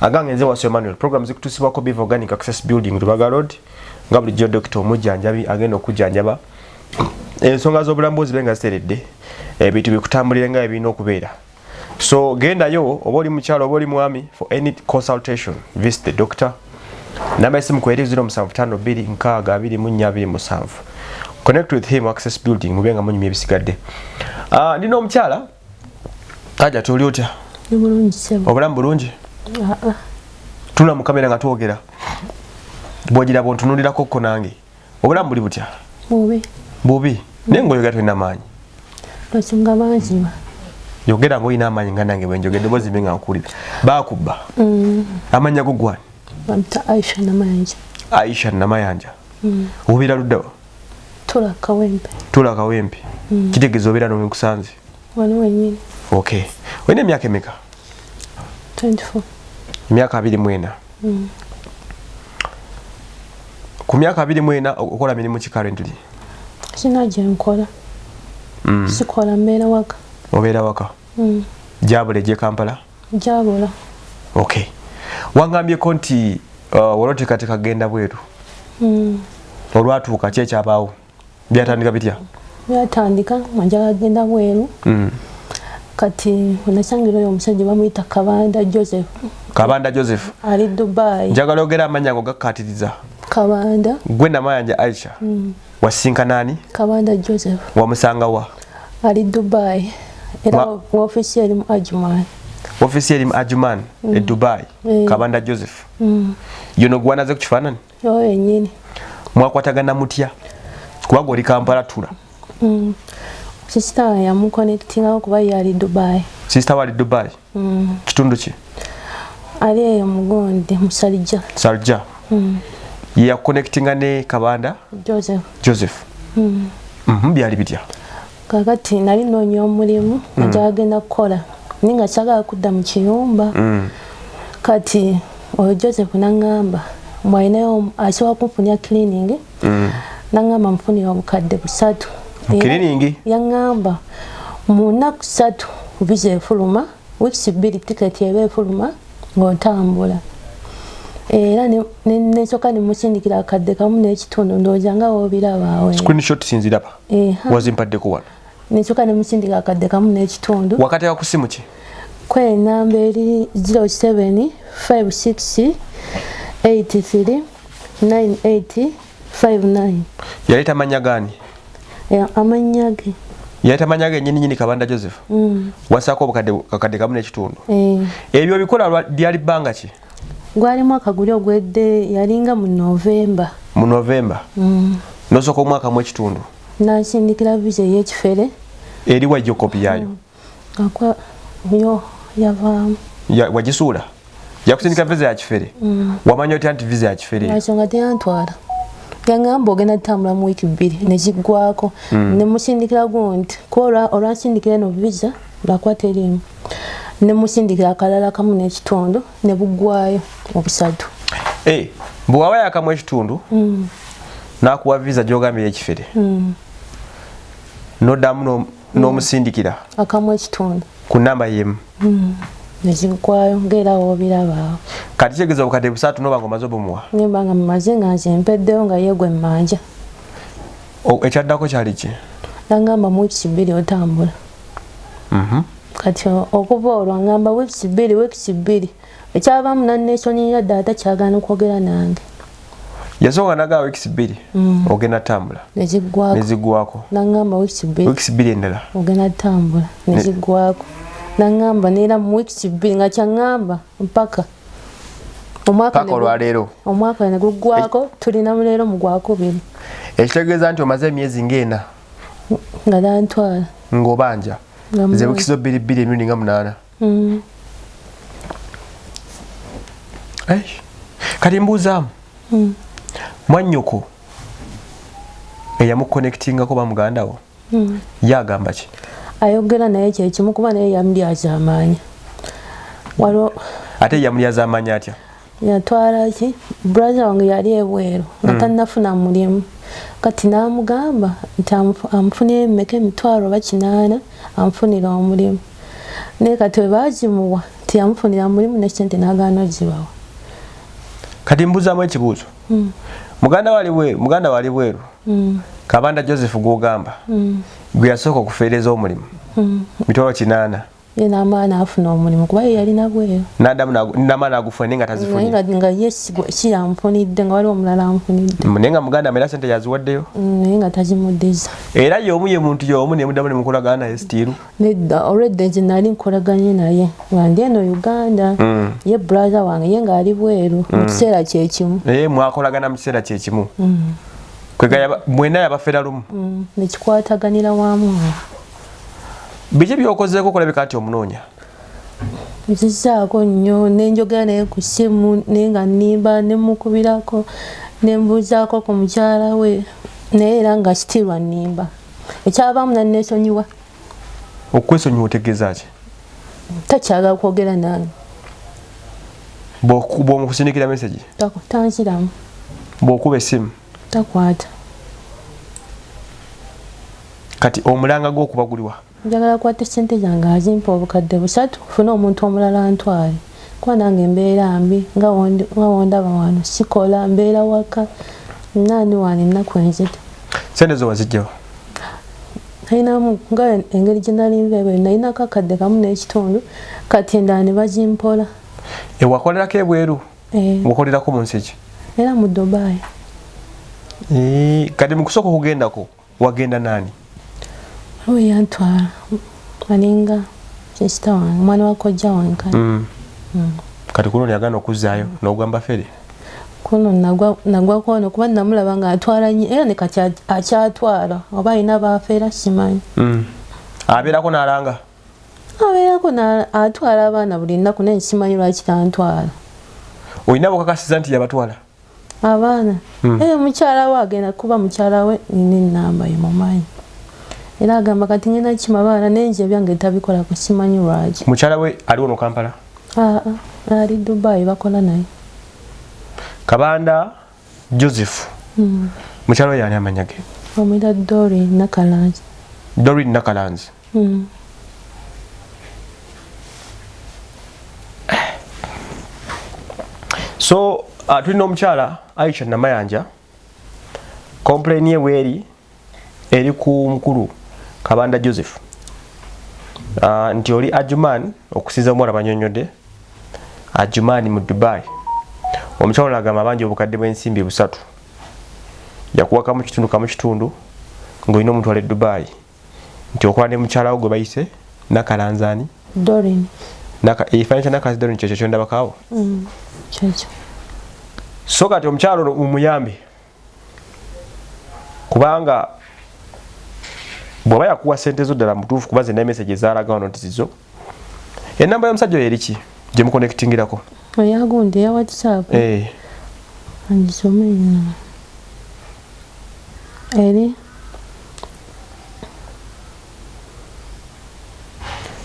agange nze wasu emmanuel program zikutusibwako biva organic access building lubaga road nga bulijjo dokita omujjanjabi agenda okujjanjaba ensonga z'obulambuzi be nga ziteredde ebintu bikutambulire nga ebirina okubeera so gendayo oba oli mukyalo oba oli mwami for any consultation visit the doctor namba esimu ku eri 07526247 connect with him access building mube nga munyumya ebisigadde ah, ndi n'omukyala Aja tuli otya? Ni bulungi sebo. Obulamu bulungi? Ah ah. Tula mu kamera nga twogera. Bwojira bo ntunulira kokko nange. Obulamu buli butya? Bubi. Bubi. Mm. Naye ngoyogera tulina amaanyi. Basunga banzima. Yogera ngoyina amaanyi nga nange bwe njogedde bozi binga nkulira. Baakubba. Mm. Amanya gugwa. Bamta Aisha Namayanja. Aisha Namayanja. Mm. Ubira ludawa. tula kawempe tula kawempe mm. kitegeza obera no wenkusanze wano wenyini okay wene miaka emeka 24 miaka abiri mwena mm. ku miaka abiri mwena okola mirimu ki currently sina gye nkola mm. sikola mbeera waka obeera waka mm. jabule gye kampala Njabula. Okay. Wangambyeko nti uh, waloteekateeka kugenda bweru. Mm. Olwatuuka ki ekyabaawo? Byatandika bitya? Byatandika nga njagala kugenda bweru. Mm. kati onasangira oyo omusajja bamuyita kabanda joseph kabanda joseph ali dubai njagala ogera amanya go gakatiriza kabanda gwe namayanja aisha mm. wasisinkana ani kabanda joseph wamusanga wa ali dubai era wofisi eri mu ajuman wofisi eri mu ajuman e mm. e dubai mm. kabanda joseph mm. yono gwanaze ku kifaanani oyo yenyini mwakwatagana mutya kubaga oli kampala tula mm. sisita yamukonectingawo kuba ye ali dubai sisita wali dubai mm. kitundu ki ali eyo mugonde musalija salija mm. yakonectinga ne kabanda joseph, joseph. Mm. Mm -hmm. byali bitya kakati nali noonya omulimu mm. njagagenda kukola naye nga kyagala kudda mu kiyumba mm. kati oyo joseph nangamba mwalinayo asobola kumfunya cleaning mm. nangamba mfunira obukadde busatu mukiriningi yangamba mu nnaku satu viza efuluma weeks bbiri tiketi eba efuluma ng'otambula era nesoka nemusindikira akadde kamu n'ekitundu ndowooza nga wobirabaawe screenshot sinziraba wazimpaddeko wano nensoka nemusindika akadde kamu n'ekitundu wakateeka ku simu ki kwe namba eri 07 56 83 98 59 yali tamanya gani yeah, amanya ge yali tamanya ge nyini nyini kabanda joseph mm. wasako obukadde kakadde kamu n'ekitundu eh. ebyo bikola lyali bbanga ki gwali mwaka guli ogwedde yalinga mu novemba mu novemba mm. nosooka omwaka mu ekitundu nasindikira visa eyekifere eri wajjo kopi yayo mm. akwa yo yavaamu ya, wagisuula yakusindika visa ya kifere mm. wamanya otya nti visa ya kifere ensonga teyantwala yangamba ogenda tutambula mu wiiki bbiri nekiggwako mm. nemusindikira gundi kuba olwansindikira eno visa Bakwa teriimu ne musindikira akalala kamu n'ekitundu ne buggwayo obusatu. Eh, bwe waba yakamu ekitundu mm. n'akuwa viza gy'ogambira ekifere mm. n'oddamu mm. n'omusindikira akamu ekitundu ku namba yemu mm. nezigwayo ngera wobiraba kati kyegeza obukadde busatu noba ngomaze obumuwa nimba nga mumaze nga nze mpeddewo nga yegwe mmanja ekyaddako kyali ki nangamba mu wiiki bbiri otambula mhm. kati okuva olwo ngamba weeks bbiri weeks bbiri ekyavaamu nanesonyiira ddala takyagana okwogera nange yasooka nagaa weeks bbiri mm. ogenda tambula nezigwako nagamba weeks bbiri endala ogenda tambula nezigwako nagamba neera mu weeks bbiri nga kyagamba mpaka paka olwaleero omwaka negugwako eh. tulina muleero mugwakubiri ekitegeeza nti omaze emyezi ngaena nga nantwala ngobanja nze bukizo biri biri emirundi nga munaana mm. kati mbuuzaamu mm. mwanyoko eyamukonectingako bamuganda wo mm. ye agamba ki ayogera naye kyekimu kuba naye yamulyazaamaanya ate yamulyazaamaanya atya yatwala ki brother wange yali ebweru nga mm. tannafuna mulimu kati n'amugamba nti amufunira emmeka emitwalo oba kinaana amufunira omulimu naye kati we baagimuwa tiyamufunira mulimu nekinti n'agaana ogibawa kati mbuzamu ekibuuzo mm. muganda wali bweru muganda wali bweru mm. kabanda joseph gwogamba mm. gwe yasooka okufeereza omulimu mm. mitwalo kinaana ye namala nafuna omulimu kuba ye yalina bweru nadamu namala nagufuna naye nga tazifunye nga ye kiyamfunidde nga waliwo omulala amfunidde naye nga muganda era sente yaziwaddeyo mm, naye nga tazimuddiza era yomu ye muntu yomu nemudamu nemukolagana naye sitiiru nedda olwedda nze nali nkolaganye naye nga ndi eno uganda mm. ye brother wange ye nga ali bweru mu mm. kiseera kyekimu naye mwakolagana mu kiseera kyekimu kwegaya mwena yabafera lumu nekikwataganira wamu biki byokozeeko kulabika nti omunoonya nzizaako nnyo nenjogera naye ku ssimu naye nga nnimba nemukubirako nembuuzaako ku mukyala we naye era nga sitirwa nnimba ekyavaamu nannesonyiwa okwesonyiwa otegeeza ki takyagala kwogera nange bwomukusindikira mesegi tanziramu bwokuba essimu takwata kati omulanga gwokuba guliwa njagala kwata sente zange azimpa obukadde busatu funa omuntu omulala ntwale kuba nange mbeera mbi nga wondaba wano sikola mbeera waka nani wano ennaku enzita sente zo wazijjawo nalinamu nga engeri gyenalinva ebweru nalinako akadde kamu n'ekitundu kati endala ne bazimpola ewakolerako ebweru eh. okolerako mu nsi ki era mu dubai eh, kati mu kusooka okugendako wagenda naani waliwo yantwala alinga sisita wange omwana wa kojja wange kati mm. mm. kati kuno niyagana okuzzaayo mm. n'ogamba fere kuno nagwa kwono kuba namulaba nga atwala nyo era nekati akyatwala oba alina bafeera simanyi mm. abeerako nalanga abeerako atwala abaana buli nnaku naye simanyi lwaki tantwala olina bukakasiza nti yabatwala abaana hmm. ee mukyala we agenda kuba mukyala we nina enamba ye mumanyi era agamba kati nyina kima baana naye nze ebyange tabikola ku simanyi lwaki mukyala we aliwo no kampala aa ali dubai bakola naye kabanda Joseph mm. mukyalo yani amanya ge omira Dori Nakalanzi Dori Nakalanzi mm. so uh, tulina omukyala Aisha Namayanja complain ye weeri eri ku mukulu kabanda joseph uh, nti oli ajuman okusinza omuwala banyonyode ajuman mu dubai omukyalo nagamba abanja obukadde bwensimbi busatu yakuwakamu kitundu kamu kitundu ngaolina omuntu wale dubai nti okola ne mukyalawo gwe bayise nakalanzani ekifananyi kyanakazi dorin kyekyo kyondabakawo mm, so kati omukyalo omuyambe kubanga bwaba yakuwa sente zo ddala mutuufu kuba zina emesage ezalaga wano nti zizo enamba yomusajja oyo eriki gyemukonectingirako oyagundi eya whatsapp eh. angisome eri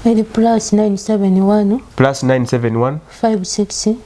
eri plus 971 plus 971 56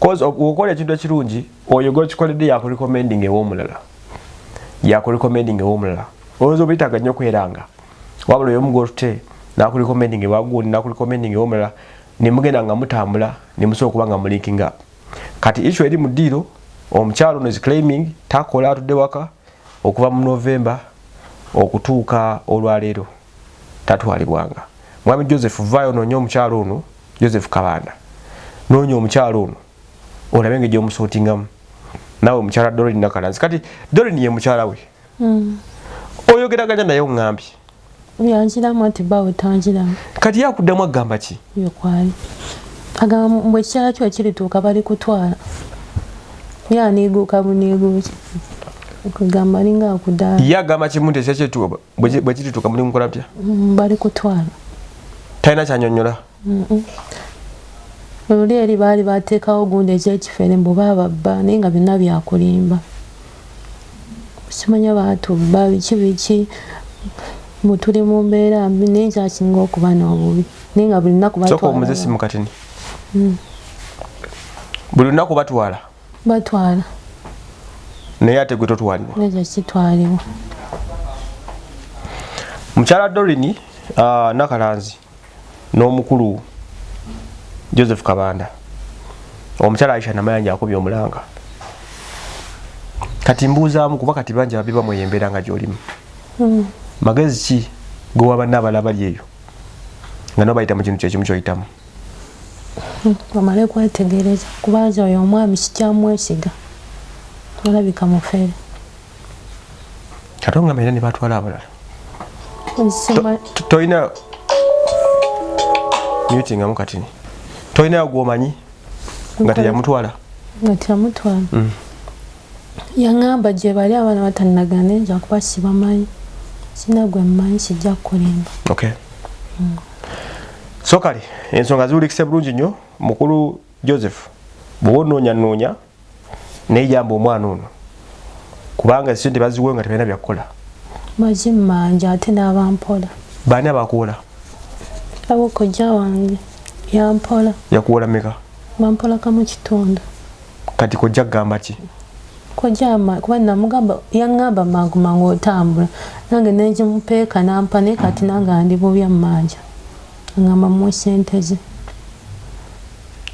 cause okola ekintu ekirungi oyo gwekikoledde yakurecommending ewomulala yakurecommending ewomulala olowooza obuyitaga nnyo kweranga wabula oyo omugolute nakurecommending ewagundi nakurecommending ewomulala nemugenda nga mutambula nemusobola okuba nga mulinking up kati issu eri mu ddiiro omukyalo ono is claiming takola atudde waka okuva mu november okutuuka olwaleero tatwalibwanga mwami joseph vayo nonya omukyalo ono joseph kabanda noonya omukyalo ono olabe nga egyomusotingamu nawe mukyala dorin nakalanzi kati dorin ye mukyala we hmm. oyogeraganya naye ongambye yanjiramu nti bawe tanjiramu kati yakuddamu agamba ki yokwali agamba mbu ekikyala kyo kirituuka bali kutwala yaneeguuka buneeguuki kugamba alinga akudaala ye agamba kimu nti ekyakyetuuka bwe kirituuka muli mukola butya mm, bali kutwala talina kyanyonyola luli eri baali bateekawo gundi ekyekifere mbu bababba naye nga byonna byakulimba kimanya batubba biki biki mbu tuli mu mbeera mbi naye kyasinga okuba n'obubi naye nga buli lunaku batwala mm. buli lunaku batwala batwala naye ate gwe totwalibwa mukyala dorini uh, nakalanzi n'omukulu joseph kabanda omukyala aisha namayanja akubye omulanga kati mbuuzaamu kuba kati bangi babiba mweyo embeera nga gyolimu hmm. magezi ki gwewabanna abala bali eyo nga nobayita mu kintu kyekimu kyoyitamu bamale kwetegereza kuba nze oyo omwami sikyamwesiga olabika mufere ate ongamba era ne batwala abalala tolina mutingamu katini tolinayo gwomanyi nga teyamutwala nga teyamutwala mm. yaŋamba gye bali abaana batanagana enja kuba sibamanyi sina gwe mmanyi sijja kukulimba mm. so kale ensonga ziwulikise bulungi nnyo mukulu joseph bwoba onoonyanoonya naye jamba omwana ono kubanga sente baziwe nga tebalina byakukola mazimanja ate n'abampola baani abakuwola abo kojja wange yampola yakuwola meka bampola kamu kitundu kati kojja kugamba ki kojja kuba namugamba yaŋŋamba mangu mangu otambula nange nenkimupeeka nampa naye kati nange andi bubya mumanja aŋŋamba muwe sente ze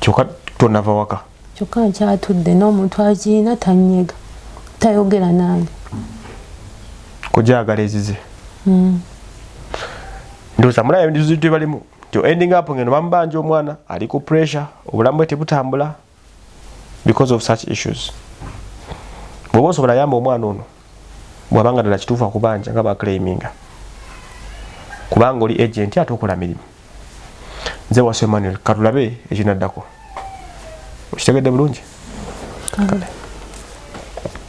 kyoka tonava waka kyokka nkyatudde n'omuntu akiina tanyega tayogera nange kujagala ezize hmm. ndoza mula yabindizo tebalimu to ending up ngeno bambanja omwana ali ku pressure obulamu bwe tebutambula because of such issues bwoba osobola yamba omwana ono bwabanga ddala kituufu akubanja nga baclaiminga kubanga oli agenti ate okola mirimu nze wasu emmanuel katulabe ekinaddako okitegedde bulungi